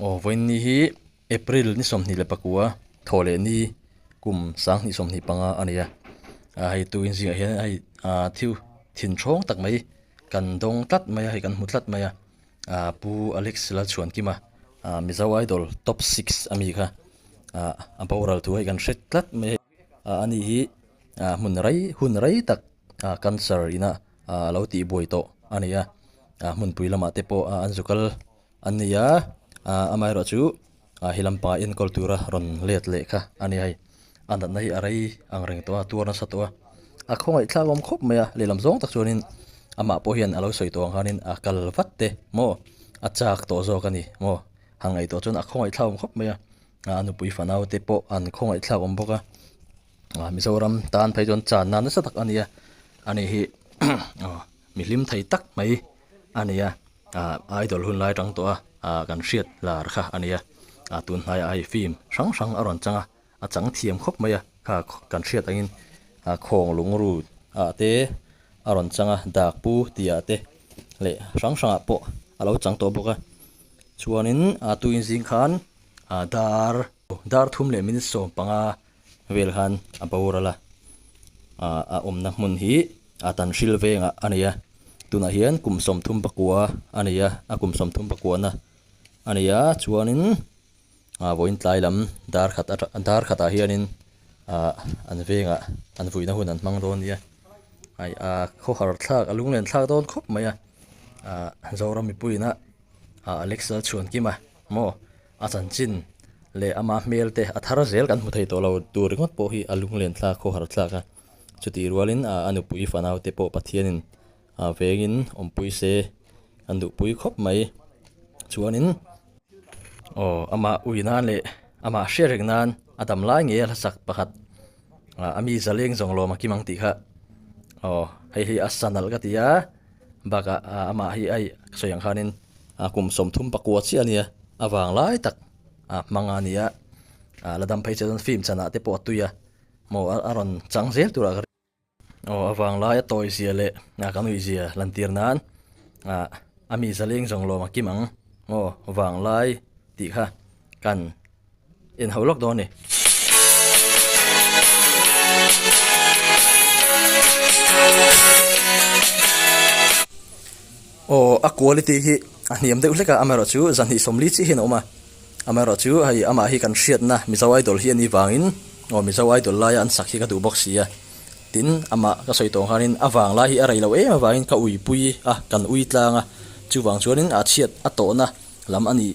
Aw vawiinni hi April ni sawmhnih leh pakua thaw leh ni kum sanghnih sawmhnih panga a ni a ah hei tuin zingah hian hei ah thil thin hrang tak mai kan dawng tlat mai a hei kan hmu tlat mai a ah pu Alex Lalchhuankima ah Mizo Idol top six a mi kha ah a boral thu hei kan hre tlat mai a. A nih hi hmun rei hun rei tak cancer ina a lo tih buai tawh a ni a, hmunpui lamah te pawh an zu kal an ni a, amaherawhchu chu hi lampanga enkawl tura rawn let leh kha a ni a hei, a natna hi a rei ang reng tawh a, tuar nasa tawh a, a khawngaihthla awm khawp mai a, lehlam zawng tak chuanin amah pawh hian a lo sawi tawh ang khanin a kal vat te maw, a chak tawh zawk a ni maw, a ngaih tawh chuan a khawngaihthla awm khawp mai a. A nupui fanau te pawh an khawngaihthlak awm bawk a, Mizoram tan phei chuan chan nan nasa tak a ni a, a nih hi mi hlim thei tak mai a ni a, idol hun lai atang tawh a kan hriat lar kha a ni a, tun hnai ah hei film hrang hrang a rawn chang a, a chang thiam khawp mai a, kha kan hriat angin khawng lungru ah te a rawn chang a, dak pu ti ah te leh hrang hrang ah pawh a lo chang tawh bawk a, chuanin a tuin zing khan. a dar dar thum leh minute sawm panga vel khan a boral a, a awmna hmun hi a tan hril vengah a nei a, tunah hian kum sawm thum pakua a nei a, a kum sawm thum pakuana a nei a chuanin ah vawiin tlai lam darkhat atang ah darkhatah hianin ah an vengah an vuihna hun an hmang dawn nia ai ah khawhar thlak a lunglen thlak dawn khawp mai a ah Zoram mipuiin a lecture a chhuan kim a. Maw a chanchin leh ama hmel te a thar zel kan hmu thei tawh lo tur ringawt pawh hi a lunglen thlak khawhar thlak a, chutih rualin a nupui fanau te pawh Pathianin a vengin awmpui se an duh pui khawp mai chuanin aw amah ui nan leh amah hria reng nan a dam lai nge a hlasak pakhat a mi zaleng zawng lawm a kim ang tih kha aw hei hi a sa nalh ka ti a. Bakah amah hi aih ka sawi ang khanin a kum sawmthum pakua chiah ania, a vanglai tak a hmang a nia, a la dam phei chiah chuan film chanah te pawh a tui a, maw a rawn chang zel turah ka ring a, aw a vanglai a tawihzia leh ka nuihzia lantir nan a mi zaleng zawng lawma kim ang maw vanglai tih kha. Kan inhauh lawk dawn a ni. Aw a quality hi a hniam deuh hlek a, amaherawh chu zahnih sawmli chiah hian a awm a, amaherawh chu hei amah hi kan hriatna Mizo Idol hi a nih vangin aw Mizo Idol laia an sak hi ka duh bawk sia, tin amah ka sawi tawh ang khanin a vang lai hi a rei lo em avangin ka uipui a, kan ui tlang a, chuvang chuanin a chhiat a tawhna lam a nih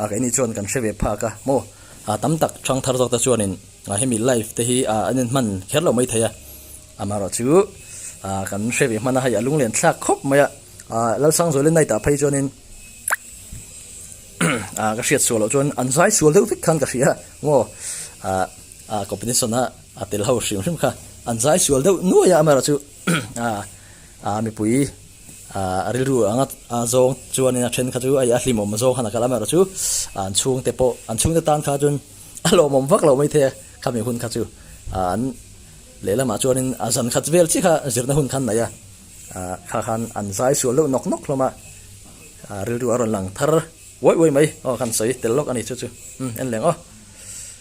A kei ni chuan kan hre ve phak a maw a tam tak chang thar zawk te chuanin a hemi live te hi a an in hman kher lo mai thei a amaherawh chu a kan hre ve hman a hei a lunglen thlak khawp mai a a lalsang zawile night ah phei chuanin a ka hriat sual loh chuan an zai sual deuh vek khan ka hria maw a a competition a a tel ho hrim hrim kha an zai sual deuh nuai a amaherawh chu a a mipui A rilru anga zawng chuanin a then kha chu a hlimawm zawng khan a kalh a amaherawhchu an chhungte pawh an chhungte tan kha chuan a lawmawm vak lo maithei a khami hun kha chu an lehlamah chuanin a zan khat vel chiah kha zirna hun khan naih a kha khan an zai sual deuh nawk nawk hlawm a rilru a rawn lang thar uai uai mai aw khan sawi tel lawk a ni chu chu enleng aw.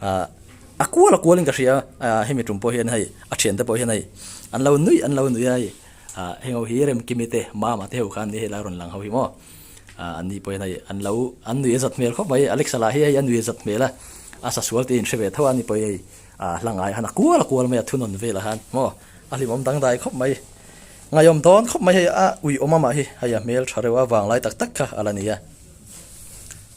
Ahh a kual a kual in ka hria ahh hemi tum pawh hian hei a thiante pawh hian hei an lo nuih an lo nuih a hei ahh heng ho hi remkimi te mama te ho khan ni hei lai a rawn lang ho hi maw ahh an ni pawh hian hei an lo an nuih a zat hmel khawp mai Alexa lah hi hei a nui a zat hmel a a sa sual te in hre ve tho a ni pawh hi hei ahh hla ngai a han a kual a kual mai a thunawn vel a han maw a hlimawm dangdai khawp mai ngaiawm dawn khawp mai hei a uiawm amah hi hei a hmel tha reuha vanglai tak tak kha a la ni a.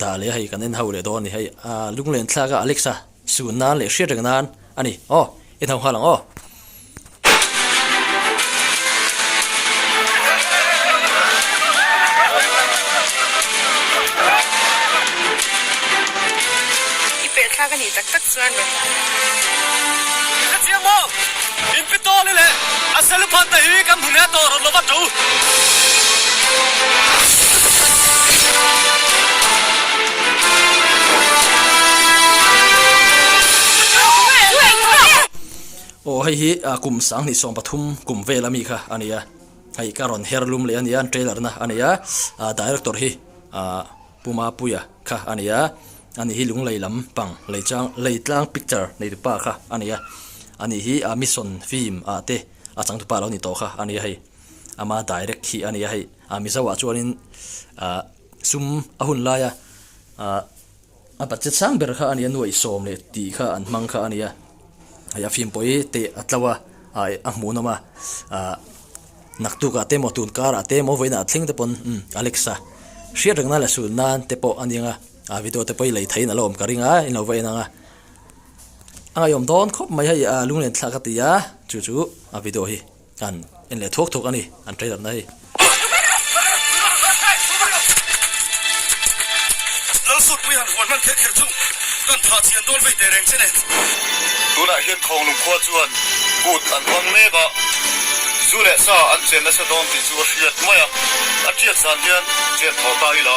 Dah leh hei kan en ho leh dawn a ni hei. Aaa lunglen thlak a Alex a suh nan leh hriat reng nan a ni. Aw en ho nghal ang aw. I pehthlak a nih tak tak chuan rawh. Ka chiang maw? Min pi tawh le le. A salu phan ta hi kan hmu nia tawh rawh lo vat u. Aw hei hi kum sang hnih sawm pathum kum vel ami kha a nia hei ka rawn her lum leh a nia an trailer na a nei a director hi ahh. Puma Puia kha a nei a, a nih hi Lunglei lam pang Leichang Leitlang Picture neitu pa kha a nei a, a nih hi a Mission Film ah te a changtu pa lo ni tawh kha a nei a hei. Ama direct hi a nei a hei. A Mizo ah chuanin ah sum a hun laia ah a budget sang ber kha a nei a, nuaih sawm leh tih kha an hmang kha a nei a. Hei a fim pawh hi teh a tlo a, ai a hmuhnawm a, ah naktuk ah te maw tun kar ah te maw vawiin ah thleng te pawn umm Alexa hriat reng nan leh sul nan te pawh a ni ang a, ah video te pawh hi lei thei in a lo awm ka ring a in lo va en ang a, a ngaihawm dawn khawp mai hei ah lunglen thla ka ti a chu chu a video hi. Kan en leh thuak thuak a ni an hreiratna hi. Lal Sutpui han huan hman theih theih chu kan thah chian dawn vei teh reng che nen. Tunah hian Khawnglung khua chuan kut an hmang mek a, zu leh sa an chen nasa dawn tih chu a hriat mai a, a tiat zan hian chen thaw ta ila.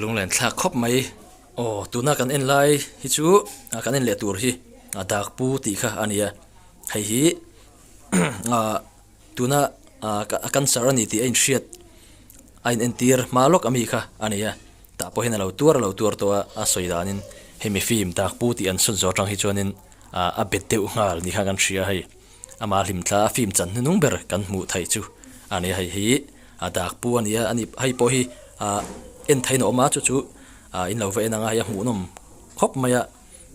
lunglen thlak khawp mai aw tuna kan en lai hi chu kan en leh tur hi dak pu tih kha a ni a hei hi aah-- Tuna a cancer a ni tih a inhriat a in entir hma lawk a mi kha a nei a, tah pawhin a lo tuar a lo tuar tawh a, a sawi danin hemi fim tak pu tih an sawn zawh atang hi chuanin a bet deuh nghal ni kha kan hria a hei, ama hlim thla a fim chan hnunung ber kan hmuh theih chu a nei a hei, hi a dak pu a nia, hei pawh hi a en theiin a awm a chu chu in lo va en ang a, hei a hmuhnawm khawp mai a.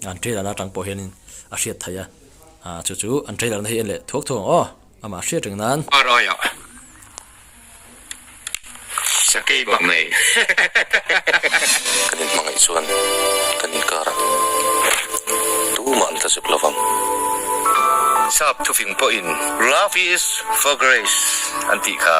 an trailer a tang pawh hian in a hriat theih a ah chu chu an trailer na hi en leh thuak thuak ang aw amah hriat reng nan. Ar ai ah sakei bak mai kan in hmangaih chuan kan in kar a tumah an tla zuk lo vang sap thuving pawh in love is for grace an tih kha.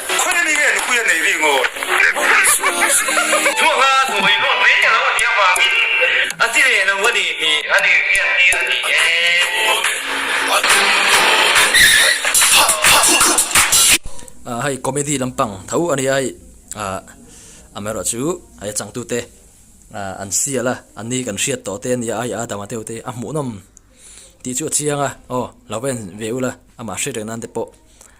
Khawi a ni nge nupui a nei ri ngawt? Hnuakna hnuai luat mai te lo a nih avangin a ti leh lo a ni tih a lirbiak hi a ni e. A hei comedy lampang tho a nia hei am erawh chu hei a changtu te an sial a an ni kan hriat tawh te a nia hei Adam a deuh te a hmuhnawm tih chu a chiang a aw lo en ve ula amah hre reng nan te pawh.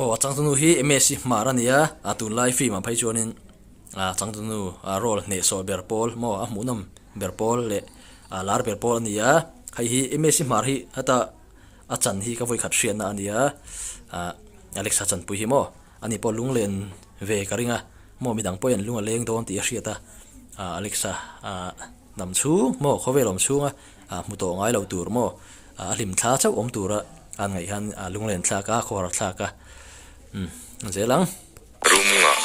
Aw a changtu nu hi msc hmar a nia a tunlai film ah phei chuanin a changtu nu a role hnehsawh ber pawl maw a hmuhnawm ber pawl leh a lar ber pawl a ni a hei hi msc hmar hi heta a chan hi ka vawi khat hriatna a nia ahh Alex a chanpui hi maw. A ni pawh lung len ve ka ring a, maw midang pawh hian lung a leng dawn tih a hriat a, Alexa hnam chhung maw khawvel awm chhunga hmu tawh ngai lo tur maw a hlim thla chauh awm tura an ngaih hian lung len thlak a, khaw har thlak a umm zel ang. Room ngah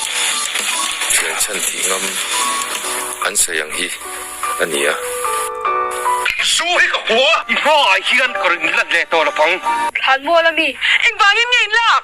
thian chhan tih ngam an sawi ang hi a ni a. Su hi ka hmu a, i hmaah hian ka rawn inlat leh tawh lo pang. Thlan mual a mi, engvangin nge in lak?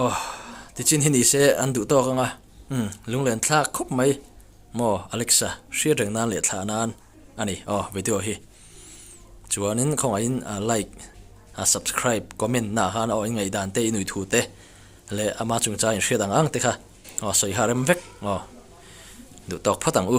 Aww tichin hi nise an duh tawk anga umm lunglen thlak khawp mai maw Alexa hriatreng nan leh thlah nan a ni aw video hi. Chuanin khawngaihin like, subscribe, comment na khan aw ingaih dan te inui thu te leh ama chungchang inhriat ang ang te kha aw sawi ha rem vek aw duh tawk phawt ang u.